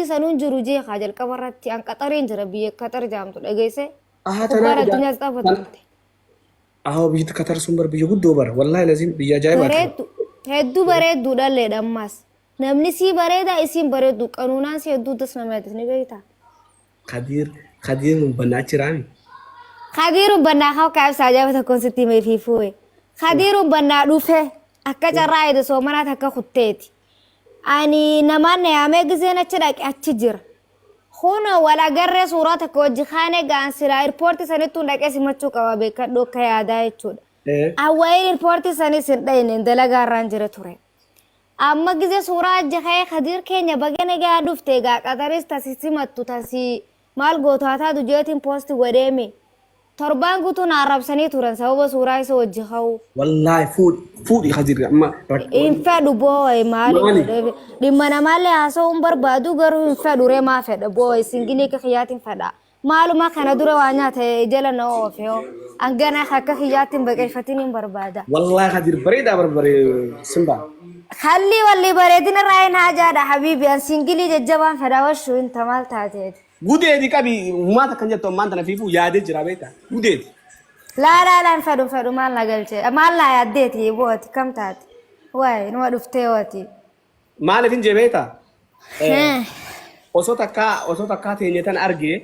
sanuu hin jiru jee kaa jalqaba irratti an qaxariin jira biyya qaxar jaamtu dhageesse Ahaa, tanaa gubbaan edaa- addunyaas xaafa tan- turte Aho biyya Katar sun bar biyya guddoo bara. Wallahi lazim biyya ajaa'ibaa ti. bareeddu hedduu bareeddu dhalleedha ammaas namni sii bareeda isiin bareeddu qanuunaan si hedduu das nama yaadis ni beektaa Kadiir Kadiir hin bannaa jiraami. Kadiirun bannaa haa kaa'e ibsaa jaaba tokkoon sitti himee fi fuue. Kadiirun bannaa dhufe akka carraa eede soomanaa takka kutteeti. ani namaan na yaamee gizeen achi dhaqe achi jira. Kunoo wal agarree suuraa takka wajji kaanee ga'an silaa irpoortii sanittuun dhaqee simachuu qaba beekadhu akka yaadaa jechuudha. Ee. An waa'ee irpoortii sanis hin dhayne dalagaa irraan jira ture. Amma gizee suuraa ajji ka'ee Kadiir keenya baga nagaa dhufte egaa qataris tasi simattu tasi Maal gootu haa taatu jeetiin post godhee mi. Torbaan guutuu na arrabsanii turan sababa suuraa isa wajji ka'uuf. Wallaahi fuudhi fuudhi kadirri amma rakkoon. Hin fedhu booy maaliif Maali? godhee dhimma namaallee haasa'uu hin barbaadu garuu hin fedhu ree maa fedha booy singilii akka kiyyaatiin fedha maaluma kana dura waa nyaata jala na oofe hoo hangana akka kiyyaatti hin baqeeffatiin hin barbaada. Wallaahi kadir bareedaa barbare simbaa. Kallii wallii bareedina raayin haajaadha habiibi an singilii jajjabaan fedha washuu inta maal taateeti. Gudeedi qabi humaa takkan jettu ammaan tana fiifuu yaadee jira beekta gudeedi. Laa laa laa hin fedhu hin fedhu maal na galche maal naa yaaddeeti boo ati kam taate waay numa dhuftee wati. Maaliif hin jee beekta osoo takkaa osoo takkaa teenye tan argee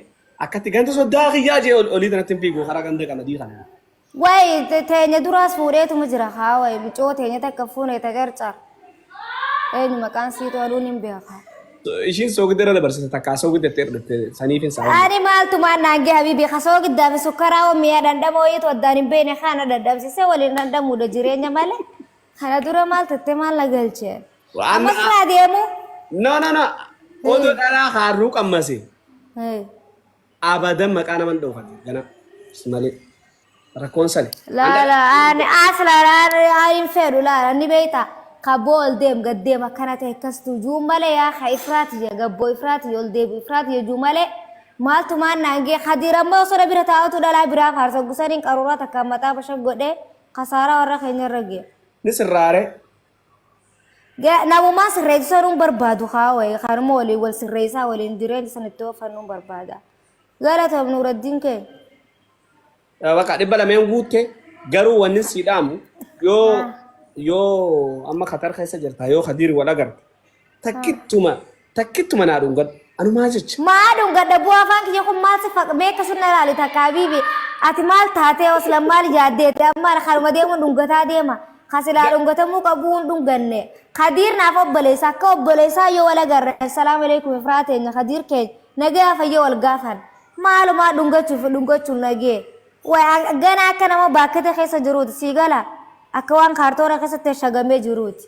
akkatti ganda soddaa kiyyaa jee olii tanatti hin fiigu karaa ganda qamadii kana. Wayi te- teenya duraas fuudheetuma jira kaa wayi micoo teenya takka fuune ta qarcar. Eenyu maqaan siitu aduun hin beekaa. Ishiin soogidda irra dabarsite takka soogidda itti dhufte saniif hin saawwan. Ani maaltu maan naan gee habiibii kasoo giddaa fi sukkaraa waan mi'a dhandhamoo iitu addaan hin beekne kana dhandhamsisee waliin dhandhamuudha jireenya malee. Kana dura maal tattee maal na galchee. Waan- Amma siraa deemu. No no no. Odoo dhalaa haarruu qammase. Hey. Abadan maqaa naman dhoofati gana malee rakkoon sani. Laala ani as laala ani hin fedhu laala ni beekta kabboo ol deem gad deem akkana ta'e akkas tu juu malee yaa ka ifraati ya gabboo ifraati ya ol deebi ifraati ya juu malee maaltu maan naangee kadiir amma osoo na bira taa'utu dhalaa biraa faarsa gusaniin qaruuraa takka mataa bashak godhee kasaaraa warra keenya irra gee. Ni sirraare Ga- Namumaa sirreessu sanuun barbaadu haa wayi kanuma waliin wal sirreessaa waliin jireenya san itti ooffannuun barbaada. Galatoom Nuuraddiin keenya. Eh, Bakka dhibba lameen guutte garuu wanni sii dhaamu yoo Ah. yoo amma Katar keessa jirta yoo Kadiir wal agarte Takkittuma takkittuma naa dhungadhu. Anu maa jecha? Maa dhungadha bu'aa afaan kiyya kun maal si faqa beeka sunna ilaali takka habiibi. Ati maal taatee oslan maal yaaddeete amma kanuma deemuun dhungataa deema. Kan silaa dhungatamuu qabuu hin dhunganne. Kadiir naaf obboleessa akka obboleessaa yoo wal agarre assalaamu alaikum ifraa teenya kadiir keenya nagaya fayya wal gaafan. Maalumaa dhungachuu fi dhungachuun nagee. Way gana akka nama baakkete keessa jiruuti sii gala akka waan kaartoona keessatti shagamee jiruuti.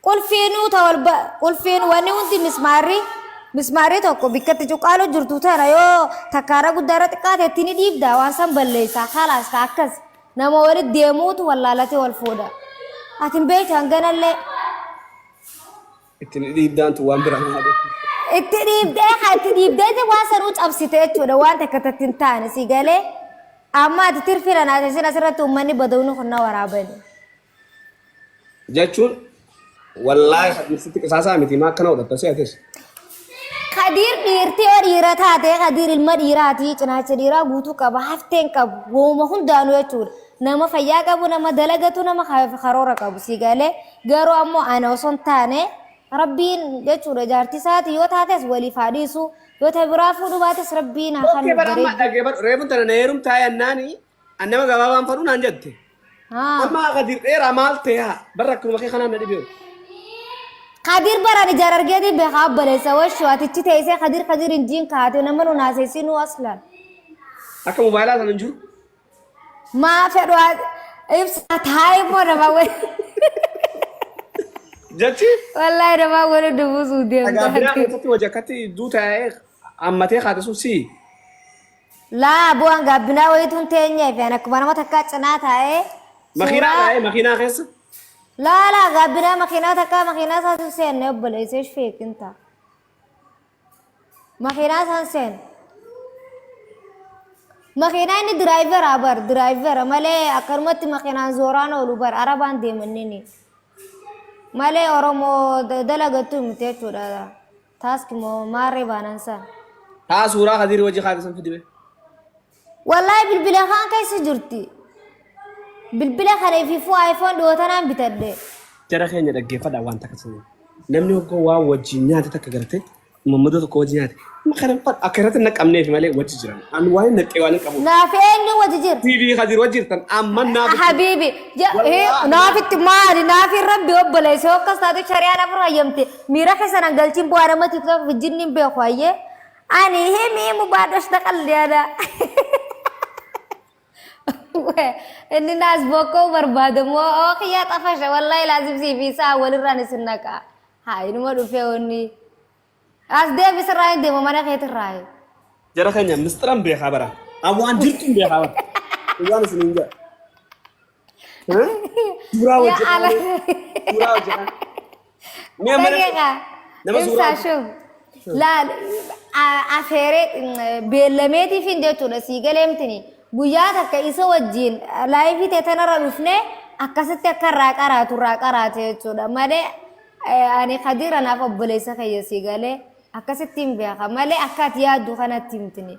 Qulfiinuu ta ol ba- qulfiin wanni hundi mismaarri mismaarri tokko bikkatti cuqqaalu jirtu tana yoo takkaara guddaara xiqqaate itti ni dhiibda waan san balleessa kalaas ka akkas nama walitti deemuutu wallaalatee wal fuudha. Ati hin beektu hanganallee Ittiin dhiibdaantu waan biraa maal itti dhiibdee ka itti dhiibdeeti waan sanuu cabsite jechuudha waan takka tatti hin taane si galee amma ati tirfina naate sin asirratti uummanni badawni kun na waraabani. jechuun wallaahi Kadiir sitti qisaasaa miti maa akkana godhatta si atis. Kadiir dhiirti yoo dhiira taate Kadiir ilma dhiiraati cinaacha dhiiraa guutuu qaba hafteen qabu wooma hundaanuu jechuudha. Nama fayyaa qabu nama dalagatu nama ka- karoora qabu si galee garuu ammoo ana osoo hin taane rabbiin jechuudha jaartii isaati yoo taates waliif haa dhiisu yoo ta biraa fuudhu baates rabbiin haa kan Okkee bara amma bareedu. dhaggeeffadhu reefu tana na heerumtaa yannaani An nama gabaabaan fadhu naan jette. Haa. Amma akka dirreeraa maal ta'e haa barra akkuma kee kanaan na dhibee. Kadir baran ijar argeti beha balesa washu atichi teise kadir kadir injin kaati nama nu nase sinu aslan. Akka mobaayilaa sana hin jiru. Ma fedhu ibsa taai mo nama wal. Jechi Wallahi nama wal dubu sudem. dhagaa biraa keessatti hojii akkatti duuta ammatee kaate sun sii. Laa aboo an gaabbinaa wayituun teenyee fi an akkuma nama takkaa cinaa taa'ee Makiinaa suuraa taa'ee makiinaa keessa. laa laa gaabbinaa makiinaa takkaa makiinaa isaa sun seenne obboleessa ishee feekin ta'a. Makiinaa isaan seenne. Makiinaa inni diraayivera bar diraayivera malee akkanumatti makiinaan zooraan oolu bar arabaan deemannini. Malee Oromoo da- dalagattu miti jechuudha. Task moo maarree baanaan saa. Taa suuraa kadiiri wajji kaate san fidime. Wallahi bilbila kaan keessa jirti. Bilbila kana ififuu iPhone dhiyootanaan bitadhe. Jara keenya dhaggeeffadha waan takka sana. Namni hoggoo waan wajjin nyaate takka garte mammadoo tokko wajjin nyaate. Amma kana fa- akka irratti hin naqamneef malee wajji jiran. Ani waan hin naqxee waan hin qabu. Naaf eenyu wajji jira? TV kadiir wajji jirtan amma naaf. Habiibi. Wallahi. Naafitti maali? Naafi rabbi obboleessa yoo akkas taate shari'aan afur hayyamte. Miira keessa nan galchiin bu'aa nama tiktok vijjinni hin beeku hayyee. Ani himi himu baadhosh taqalli ana. Inni naas bokkoo barbaada moo oo kiyyaa xafasha wallahi laazim sii fi isaa walirraan isin naqa. Haa inuma dhufee onni. As deebi sirraa hin deema mana keetirraa. Jara keenya misxiran beekaa bara. An waan jirtuun beekaa bara. Waan isin hin jedha. Suuraa hojjetaa. Suuraa hojjetaa. Mee amma namni- Daqiiqa. nama suuraa Ibsaa shuf. Laal a- afeeree mm, beellameetiifin jechuudha sii galeemtini. Guyyaa takka isa wajjin laayifii ta'e tanarra dhufne akkasitti akka irraa qaraatu irraa qaraate jechuudha. Malee eh, ani Kadiir anaaf obboleessa kiyya sii galee akkasitti hin beeka. Malee akka ati yaaddu kanatti himtini.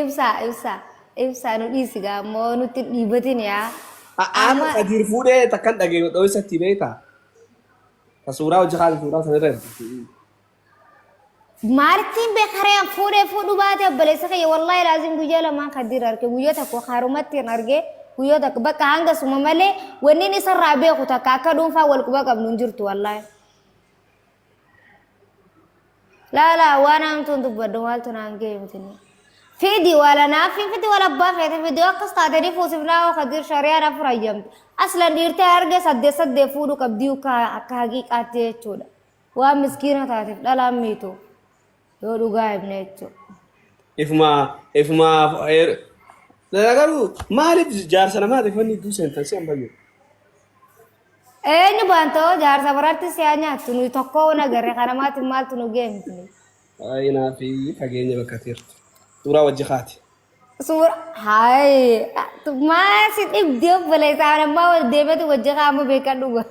Ibsaa ibsaa ibsaa nu dhiisi gaa ammoo nutti hin dhiibatin yaa. A'aanu Amma Kadiir fuudhee takkan dhagee dhooysatti beeyta. Ta suuraa hojii kaasa suuraa sanirra ergiti. maalittiin beekaree an fuudhee fuudhu baate obboleessa kiyya wallaahi laaziin guyyaa lamaan kadiir arge guyyaa tokko haarumatti hin arge guyyaa tokko bakka hanga suma malee wanni inni isarraa beeku takka akka dhuunfaa wal quba qabnu hin jirtu wallaahi. laala waan hamtuun dubbadhu maaltu naan ga'e miti fidi wala naafii fidi wala abbaa feete fidoo akkas taatanii fuusifnaa oo kadir shari'aan afur hayyamte aslan dhiirtee arge saddeet saddeet fuudhu qabdii akka haqiiqaatti jechuudha waan miskiina taateef dhalaan miitu yoo dhugaa himne jechuudha. Ifuma ifuma garuu maaliif jaarsa namaatiif wanni iddoo seentan si hin fayyadu. Eenyu baantoo jaarsa biraatti siyaa nyaattu nuyi tokkoo wana garre kana maatiin maaltu nu geem please. Ayinaa fi fageenya bakka teertu. Suuraa wajji kaati. Suura hayi maa si dhibdi obboleessa ana ammaa wal deematu wajji kaama beekan dhuga.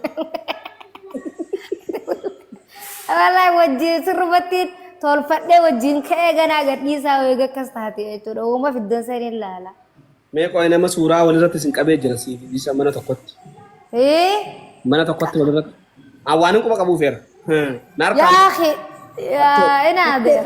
Walaa wajji sirrumatti tolfadhee wajjin ka'ee ganaa gadhiisaa eega akkas taate jechuudha. Uuma fiddan saniin laala. Mee qo'ee nama suuraa walirratti isin qabee jira siif isa mana tokkotti. Ee Mana tokkotti walirratti. Aan waan hin quba qabuu feera. Na harkaa. yaa akhi yaa inaa beer.